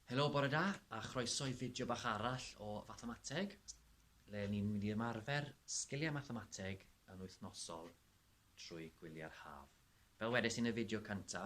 Helo, bore da, a chroeso i fideo bach arall o Fathamateg, le ni'n mynd i ymarfer sgiliau mathemateg yn wythnosol trwy gwyliau'r haf. Fel wedes i yn y fideo cynta,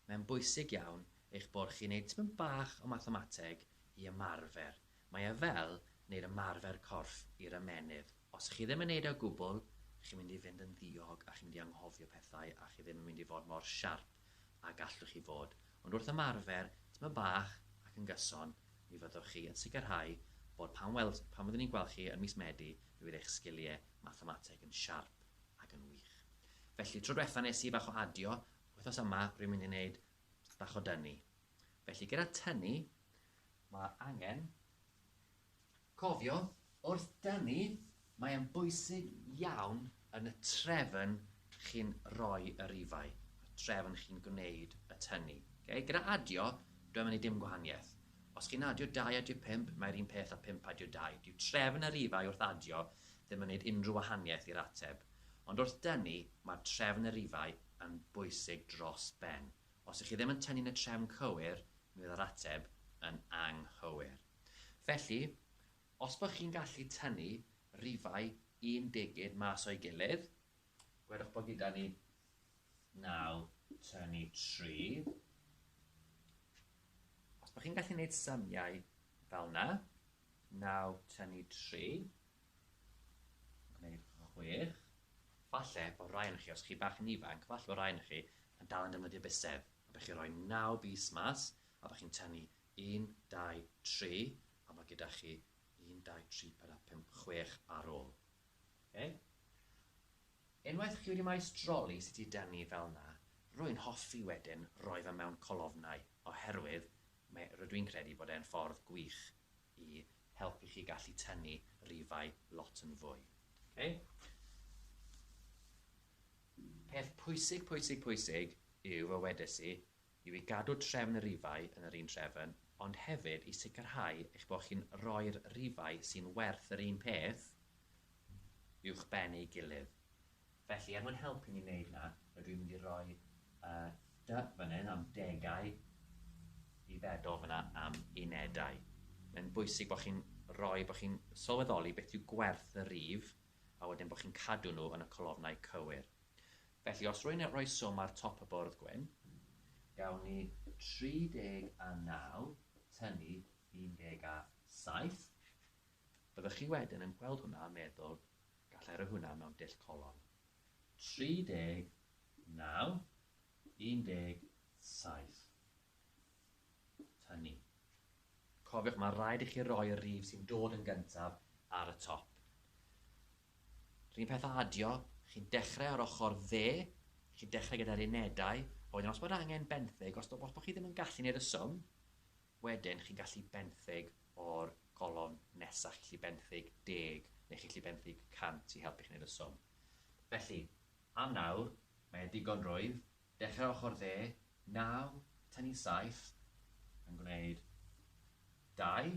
mae'n bwysig iawn eich bod chi'n neud tipyn bach o mathemateg i ymarfer. Mae e fel neud ymarfer corff i'r ymennydd. Os chi ddim yn neud e o gwbl, chi'n mynd i fynd yn ddiog a chi'n mynd i anghofio pethau a chi ddim yn mynd i fod mor siarp. a gallwch chi fod, ond wrth ymarfer tymed bach ac yn gyson, mi fyddwch chi yn sicrhau bod pan weld, pan fyddwn ni'n gweld chi yn mis Medi, mi fydd eich sgiliau mathemateg yn siarp ac yn wych. Felly, tro diwetha nes i bach o adio, wythnos yma rwy'n mynd i wneud bach o dynnu. Felly, gyda tynnu, mae angen Cofiwch, wrth dynnu, mae e'n bwysig iawn yn y trefn chi'n rhoi y rifau, y trefn chi'n gwneud y tynnu. Okay? Gyda adio, dwi'n mynd i dim gwahaniaeth. Os chi'n adio 2 adio 5, mae'r un peth a 5 adio 2. Dyw trefn y rifau wrth adio ddim yn gwneud unrhyw wahaniaeth i'r ateb. Ond wrth dynnu, mae'r trefn y rifau yn bwysig dros ben. Os ych chi ddim yn tynnu'n y trefn cywir, mi fydd yr ateb yn anghywir. Felly, os bod chi'n gallu tynnu rifau un degyn mas o'i gilydd, gwedwch bod gyda ni 9 tynnu 3. Os bod chi'n gallu gwneud symiau fel yna, 9 tynnu 3, gwneud 6, falle bod rai yn chi, os chi bach yn ifanc, falle bod rai yn chi yn dal yn defnyddio bysedd, a bych chi'n rhoi 9 bys mas, a bych chi'n tynnu Un, dau, tri, a mae gyda chi un, dau, tri, pedwar, pump, chwech ar ôl. Okay? Unwaith chi wedi maestroli sut i dynnu fel na, rwy'n hoffi wedyn roi fe mewn colofnau, oherwydd mae, rydw i'n credu bod e'n ffordd gwych i helpu chi gallu tynnu rifau lot yn fwy. Okay? Peth pwysig, pwysig, pwysig yw, fe wedes i, yw i gadw trefn y rifau yn yr un trefn, ond hefyd i sicrhau eich bod chi'n rhoi'r rifau sy'n werth yr un peth uwchben ei gilydd. Felly, er mwyn helpu ni wneud 'na, rydw i'n mynd i roi y dy fan hyn am degau i feddwl fan'na am unedau. Mae'n bwysig bod chi'n rhoi, bod chi'n sylweddoli beth yw gwerth y rif a wedyn bod chi'n cadw nhw yn y colofnau cywir. Felly os rwy'n rhoi swm ar top y bwrdd gwyn, gawn ni 39 tynnu 17. Byddwch chi wedyn yn gweld hwnna a meddwl, gallai roi hwnna mewn dull colon. 39, 17. Tynnu. Cofiwch, mae'n rhaid i chi roi y rif sy'n dod yn gyntaf ar y top. Run peth a adio, chi'n dechrau ar ochr dde, chi'n dechrau gyda'r unedau, a wedyn os bod angen benthyg, os, os bod chi ddim yn gallu gwneud y swm, wedyn chi'n gallu benthyg o'r golofn nesaf, chi'n gallu benthyg deg, neu chi'n gallu benthyg cant i helpu chi wneud y swm. Felly, am nawr, mae e digon rwydd, dechrau ochr dde, 9, tynnu 7, yn gwneud 2,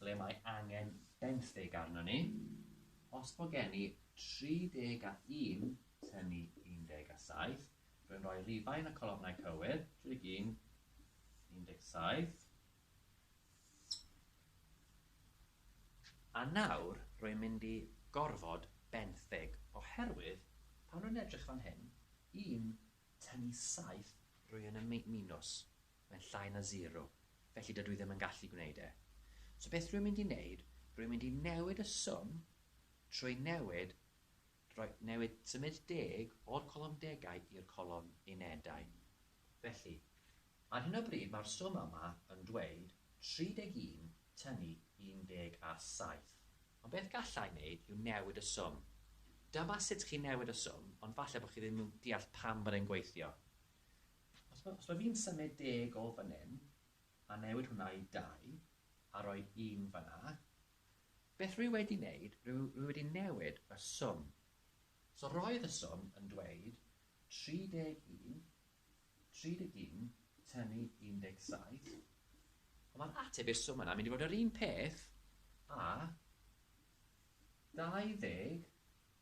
ble mae angen benthyg arnon ni, os bo gen i 31 tynnu 17, rwy'n rhoi rifau yn y colofnau cywir, 31, 17, a nawr rwy'n mynd i gorfod benthyg, oherwydd pan rwy'n edrych fan hyn, 1 tynnu 7, rwy'n yn minws. Mae'n llai na zero, felly dydw i ddim yn gallu gwneud e. So beth rwy'n mynd i wneud, rwy'n mynd i newid y swm trwy newid, rhoi, newid, symud deg o'r colofn degau i'r colofn unedau. Felly, ar hyn o bryd mae'r swm yma yn dweud 31 tynnu 17. Ond beth galla i wneud yw newid y swm. Dyma sut chi'n newid y swm, ond falle bod chi ddim yn deall pam bod e'n gweithio. Os ma, os ma fi'n symud deg o fan hyn, a newid hwnna i dau, a rhoi un fan 'na, beth rwy wedi wneud, rwy, rwy wedi newid y swm. So roedd y swm yn dweud 31, 31 tynnu 17, ond mae'r ateb i'r swm yna mynd i fod yr un peth a 20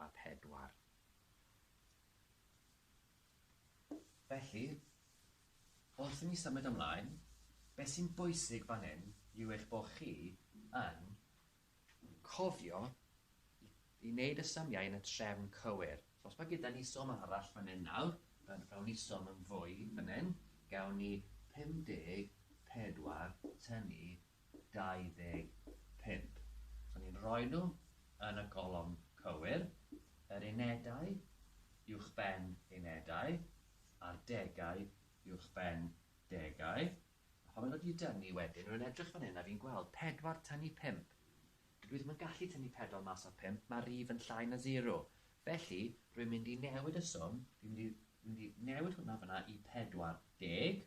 a phedwar. Felly, wrth i ni symud ymlaen, beth sy'n bwysig fan hyn yw eich bod chi yn cofio i i wneud y symiau yn y trefn cywir. So os mae gyda ni swm arall fan hyn nawr, fel gawn ni swm yn fwy fan hyn, gawn ni 54 tynnu 25. So ni'n rhoi nhw yn y golofn cywir, yr unedau uwchben unedau a'r degau uwchben degau. A phan maen nhw wedi dynnu wedyn, rwy'n edrych fan hyn a fi'n gweld 4 tynnu 5. Dydw i ddim yn gallu tynnu 4 mas o'r 5, mae'r rif yn llai na 0. Felly, rwy'n mynd i newid y swm, fi'n mynd i, mynd i newid hwnna fanna i 40.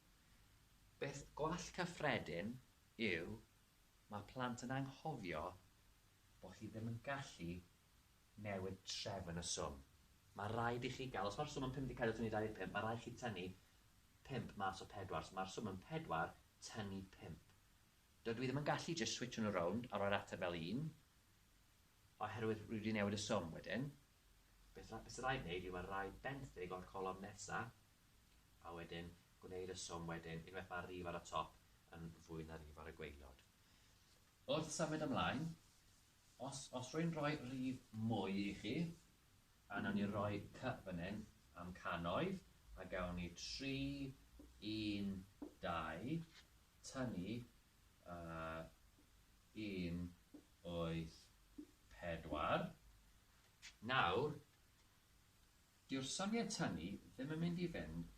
Beth gwall cyffredin yw mae plant yn anghofio bod chi ddim yn gallu newid trefn y swm. Mae rhaid i chi gael, os mae'r swm yn 54 tynnu 25, mae rhaid i chi tynnu 5 mas o 4, so mae'r swm yn 4 tynnu 5. Dydw i ddim yn gallu jyst switsio nhw rownd a rhoi'r ateb fel 1, oherwydd rwy wedi newid y swm wedyn. Beth sy'n rhaid wneud yw mae rhaid benthyg o'r colofn nesaf A wedyn, gwneud y swm wedyn, unwaith mae'r rif ar y top yn fwy na rif ar y gwaelod. Wrth symud ymlaen, os, os rwy'n rhoi rif mwy i chi, a wnawn ni roi cy fan hyn am cannoedd, a gawn ni 3, 1, 2, tynnu a 1, 8, 4. Nawr, Dyw'r syniad tynnu ddim yn mynd i fynd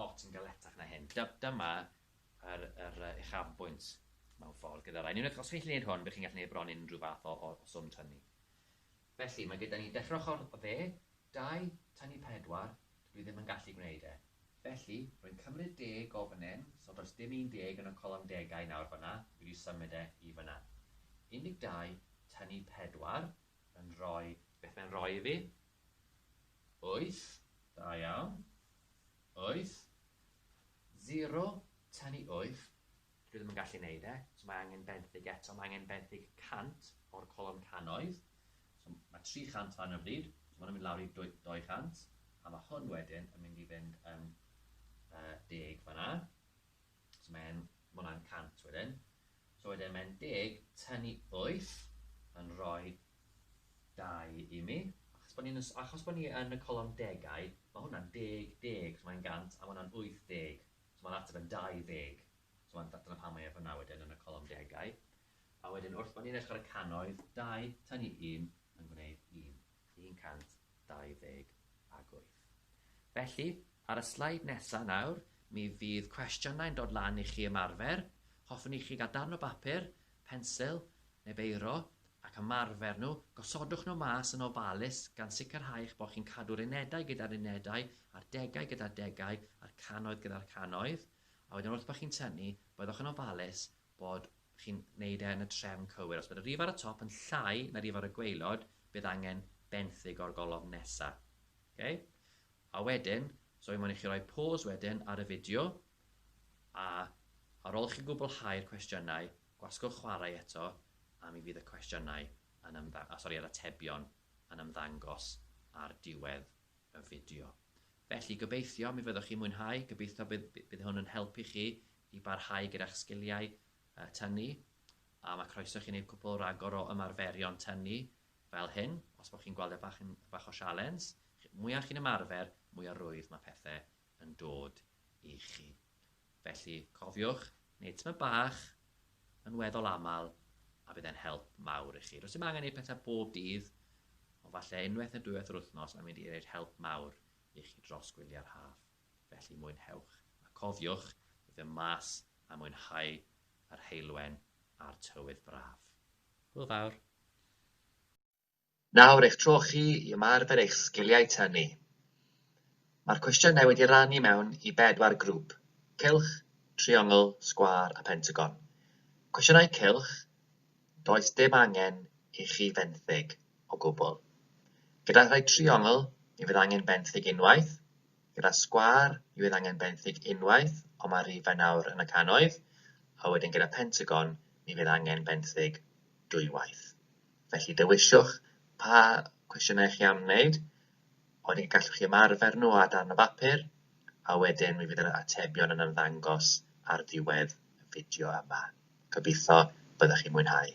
lot yn galetach na hyn. Dyma yr yr yy uchafbwynt mewn ffordd gyda rai. Yn unwaith os chi'n gallu neud hwn by' chi'n gallu neud bron unrhyw fath o o o swm tynnu. Felly ma' gyda ni dechre ochor o dde, dau, tynnu pedwar, dydw i ddim yn gallu gwneud e. Felly, rwy'n cymryd deg o fan 'yn, so does dim un deg yn y colofn degau nawr fan'na, dwi 'di symud e i fan'na. Un deg dau, tynnu pedwar, yn rhoi, beth mae'n rhoi i fi? Wyth, da iawn. Wyth. Zero, ten i wyth. Dwi ddim yn gallu neud e, so mae angen benthyg eto, mae angen benthyg 100 o'r colofn cannoedd. So mae 300 fan hyn o bryd, so mae hwn yn mynd lawr i 200, a mae hwn wedyn yn mynd i fynd yn uh, deg fanna. So mae e'n, ma' hwnna'n 100 wedyn. So wedyn mae'n deg tynnu 8 yn rhoi 2 i mi. Achos bod ni'n y s- achos bod ni yn y colofn degau, ma' hwnna'n deg deg, so mae'n 100 a ma' hwnna'n 80. So ma'r ateb yn 20. So ma'n, dyna pam mae e fan'na wedyn yn y colofn degau. A wedyn wrth bo' ni'n edrych ar y cannoedd, 2 tynnu 1 yn gwneud 1. 128. Felly, ar y sleid nesaf nawr, mi fydd cwestiynau'n dod lan i chi ymarfer. Hoffwn i chi gael darn o bapur, pensil neu beiro ac ymarfer nhw. Gosodwch nhw mas yn ofalus gan sicrhau eich bod chi'n cadw'r unedau gyda'r unedau a'r degau gyda'r degau a'r cannoedd gyda'r cannoedd, a wedyn wrth bod chi'n tynnu, byddwch yn ofalus bod chi'n wneud e yn y trefn cywir. Os bod y rif ar y top yn llai na rif ar y gwaelod, bydd angen benthyg o'r golofn nesa. Okay? A wedyn, so i moyn i chi roi pause wedyn ar y fideo, a ar ôl chi gwblhau'r cwestiynau, gwasgwch chwarae eto, a mi fydd y cwestiynau yn ymddang- a, sori, yr atebion yn ymddangos ar diwedd y fideo. Felly, gobeithio mi fyddwch chi'n mwynhau, gobeithio bydd, bydd hwn yn helpu chi i barhau gyda'ch sgiliau tynnu, a mae croeso i chi wneud cwpl ragor o ymarferion tynnu fel hyn, os bod chi'n gweld e bach yn bach o sialens. Mwya chi'n ymarfer, mwya rwydd mae pethe yn dod i chi. Felly, cofiwch wneud tymed bach yn weddol aml, a bydd e'n help mawr i chi. Rwy'n ddim angen gwneud pethau bob dydd, ond falle unwaith neu dwywaith yr wythnos mae'n mynd i wneud help mawr i chi dros gwyliau'r haf. Felly mwynhewch, a cofiwch, fy mhlas a mwynhau yr heulwen a'r tywydd braf. Hwyl fawr! Nawr eich tro chi i ymarfer eich sgiliau tynnu. Mae'r cwestiynau wedi rannu mewn i bedwar grŵp, cylch, triongl, sgwâr a phentagon. Cwestiynau cylch, does dim angen i chi fenthyg o gwbl. Gyda rhai triongl, mi fydd angen benthyg unwaith, Gyda sgwâr yw ef angen benthyg unwaith ond mae rhifau nawr yn y cannoedd, a wedyn gyda pentagon mi fydd angen benthyg dwywaith. Felly dewisiwch pa cwestiynau chi am wneud, a wedyn gallwch chi ymarfer nhw ar darn o bapur, a wedyn mi fydd yr atebion yn ymddangos ar ddiwedd y fideo yma. Gobeithio byddwch chi'n mwynhau.